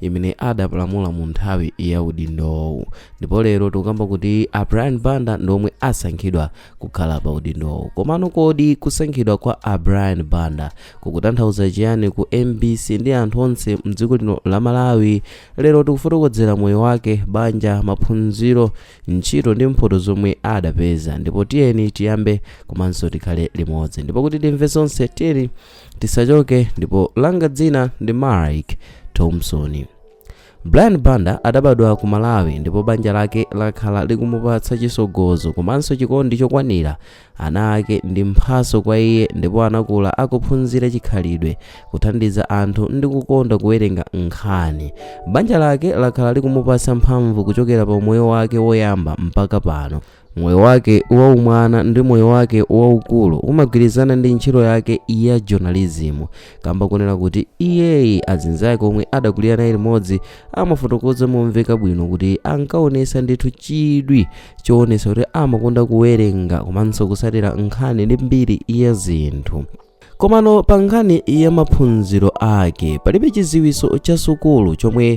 imene adapalamula mu nthawi ya udindowu ndipo lero tikukamba kuti a brian banda ndi omwe asankhidwa kukhala pa udindowu komano kodi kusankhidwa kwa a brian banda kukutanthauza chiyani ku mbc ndi anthu onse mdziko lino la malawi lero tikufotokozera moyo wake banja maphunziro ntchito ndi mphoto zomwe adapeza ndipo tiyeni tiyambe komanso tikhale limodzi ndipo kuti timve zonse tiyeni tisachoke ndipo langa dzina ndi mike thompson brian banda adabadwa ku malawi ndipo banja lake lakhala likumupatsa chisogozo komanso chikondi chokwanira ana ake ndi mphaso kwa iye ndipo anakula akuphunzira chikhalidwe kuthandiza anthu ndi kukonda kuwerenga nkhani banja lake lakhala likumupatsa mphamvu kuchokera pa umoyo wake woyamba mpaka pano Moyo wake waumwana ndi moyo wake waukulu umagwirizana ndi ntchito yake ya journalism kamba kunena kuti iyeyi azinzake omwe adakulira naye limodzi amafotokoza momveka bwino kuti ankaonesa ndithu chidwi choonesa kuti amakonda kuwerenga komanso kusatira nkhani ndi mbiri ya zinthu Komano pa nkhani ya maphunziro ake, palibe chiziwiso cha sukulu chom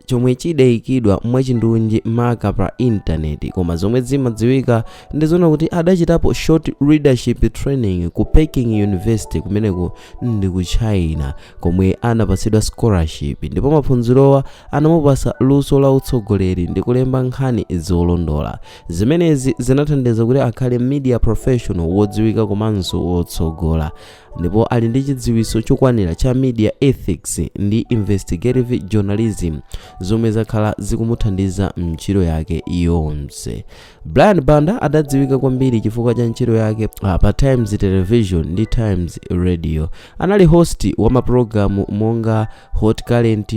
chomwe chidayikidwa mwachindunji maka pa intaneti koma zomwe zimadziwika ndi zona kuti adachitapo short leadership training ku Peking University kumeneko ndi ku China komwe anapasidwa scholarship ndipo maphunzirowa anamupasa luso la utsogoleri ndi kulemba nkhani zolondola zimenezi zinathandiza kuti akhale media professional wodziwika komanso wotsogola ndipo ali ndi chidziwiso chokwanira cha media ethics ndi investigative journalism zomwe zakhala zikumuthandiza mntchito yake yonse brian banda adadziwika kwambiri chifukwa cha ntchito yake ah, pa times television ndi times radio anali host wa mapulogalamu monga hot current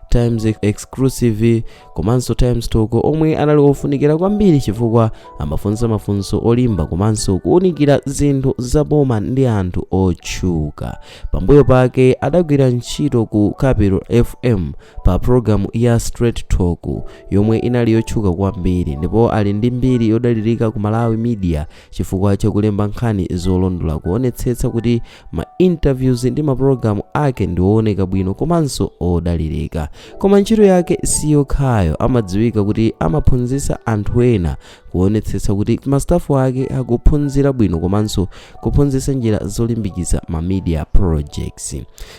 times exclusive komanso times talk omwe anali ofunikira kwambiri chifukwa amafunsa mafunso olimba komanso kuwunikira zinthu za boma ndi anthu otchuka pambuyo pake adagwira ntchito ku capital fm pa programu ya straight talk yomwe inali yotchuka kwambiri ndipo ali ndi mbiri yodalirika ku malawi media Chifukwa cha kulemba nkhani zolondola, kuonetsetsa kuti ma interviews ndi mapulogalamu ake ndi ooneka bwino komanso odalirika. Koma ntchito yake si yokhayo, amadziwika kuti amaphunzitsa anthu ena kuonetsetsa kuti mastafu ake akuphunzira bwino komanso kuphunzitsa njira zolimbikitsa ma media projects.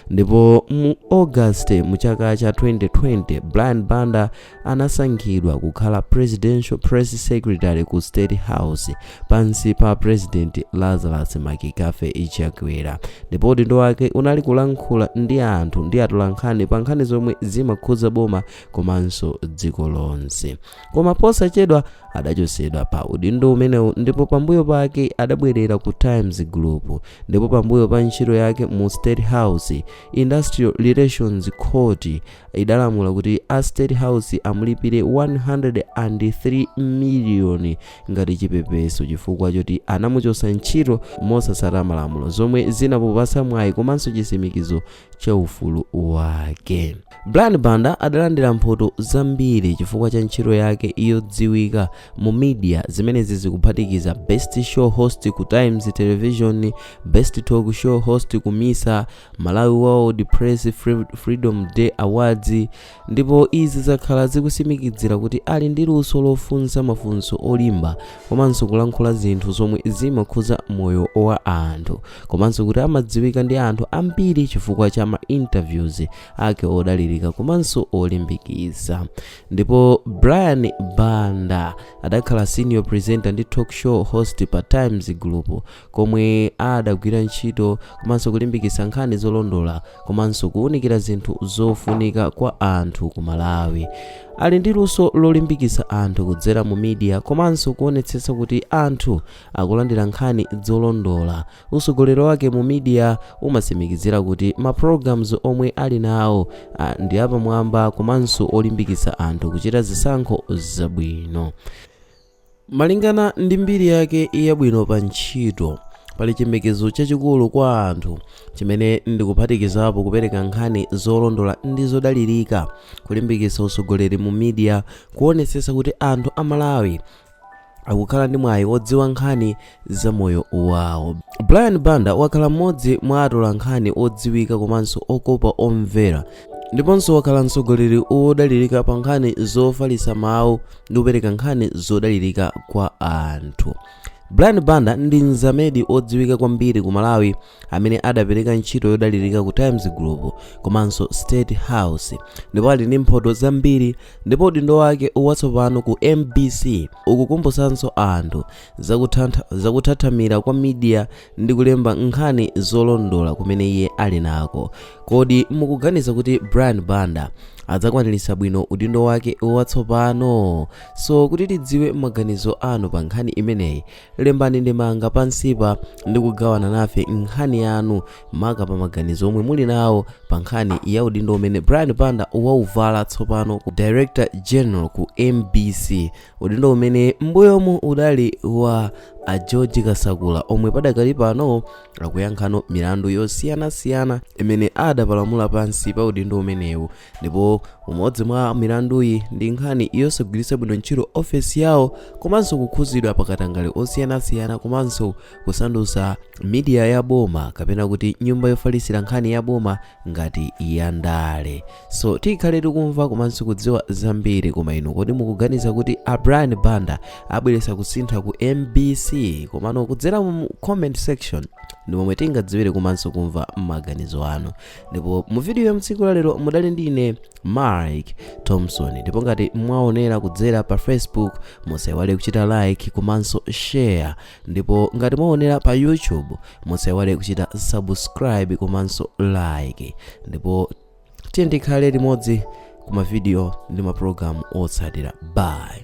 Ndipo mu August mu chaka cha 2020, Brian Banda anasankhidwa kukhala Presidential Press Secretary ku State House pansi pa President Lazarus McCarthy Chakwera ndipo udindo wake unali kulankhula ndi anthu ndi atolankhani pa nkhani zomwe zimakhudza boma komanso dziko lonse koma posachedwa adachotsedwa pa udindo umenewu ndipo pambuyo pake adabwerera ku Times Group ndipo pambuyo pa ntchito yake mu State House Industrial Relations Court idalamula kuti a state house amulipire 103 miliyoni ngati chipepeso chifukwa choti anamuchotsa ntchito mosatsata malamulo zomwe zinamupatsa mwayi komanso chitsimikizo cha ufulu wake brian banda adalandira mphoto zambiri chifukwa cha ntchito yake yodziwika mu media zimenezi zikuphatikiza best show host ku times television best talk show host ku misa Malawi World Press Freedom Day Awards ndipo izi zakhala zikutsimikizira kuti ali ndi luso lofunsa mafunso olimba komanso kulankhula zinthu zomwe zimakhudza moyo wa anthu komanso kuti amadziwika ndi anthu ambiri chifukwa cha ma interviews ake odalirika komanso olimbikitsa ndipo brian banda adakhala senior presenter ndi talk show host pa times group komwe adagwira ntchito komanso kulimbikitsa nkhani zolondola komanso kuwunikira zinthu zofunika kwa anthu ku Malawi. Ali ndi luso lolimbikitsa anthu kudzera mu media komanso kuonetsetsa kuti anthu akulandira nkhani zolondola. Utsogoleri wake mu media umatsimikizira kuti ma programs omwe ali nawo ndi apamwamba komanso olimbikitsa anthu kuchita zisankho zabwino. Malingana ndi mbiri yake yabwino pa ntchito, pali chiyembekezo chachikulu kwa anthu, chimene ndikuphatikizapo kupereka nkhani zolondola ndi zodalirika, kulimbikitsa utsogoleri mu media, kuonetsetsa kuti anthu a Malawi akukhala ndi mwayi wodziwa nkhani za moyo wawo. Brian Banda wakhala mmodzi mwa atolankhani odziwika komanso okopa omvera ndiponso wakhala mtsogoleri wodalirika pa nkhani zofalitsa mawu ndi kupereka nkhani zodalirika kwa anthu. Brian Banda ndi mzamedi odziwika kwambiri ku Malawi amene adapereka ntchito yodalirika ku Times Group komanso State House ndipo ali ndi mphoto zambiri ndipo udindo wake watsopano ku MBC ukukumbutsanso anthu zakuthathamira kwa media ndi kulemba nkhani zolondola kumene iye ali nako kodi mukuganiza kuti Brian Banda adzakwaniritsa bwino udindo wake watsopano so kuti tidziwe maganizo anu pa nkhani imeneyi lembani ndemanga pansipa ndi kugawana nafe nkhani yanu maka pa maganizo omwe muli nawo pa nkhani ya udindo umene brian banda wauvala tsopano ku director general ku mbc udindo umene mbuyomu udali wa a george kasakula omwe padakali pano akuyankhanso milandu yosiyanasiyana imene adapalamula pansi pa udindo umenewu ndipo umodzi mwa milanduyi ndi nkhani yosagwiritsa bwino ntchito ofesi yawo komanso kukhuzidwa pakatangale osiyanasiyana komanso kusandusa media ya boma kapena kuti nyumba yofalisira nkhani ya boma ngati ya ndale so tikhale tikumva komanso kudziwa zambiri koma inu kodi mukuganiza kuti a brian banda abweresa kusintha ku mbc komano kudzera mu comment section ndi momwe tingadziwire komanso kumva maganizo anu ndipo mu video ya mtsiku la lero mudali ndi ine mike thompson ndipo ngati mwaonera kudzera pa facebook musaiwale kuchita like komanso share ndipo ngati mwaonera pa youtube musaiwale kuchita subscribe komanso like ndipo tiye tikhale limodzi ku mavidiyo ndi maprogramu otsatira bye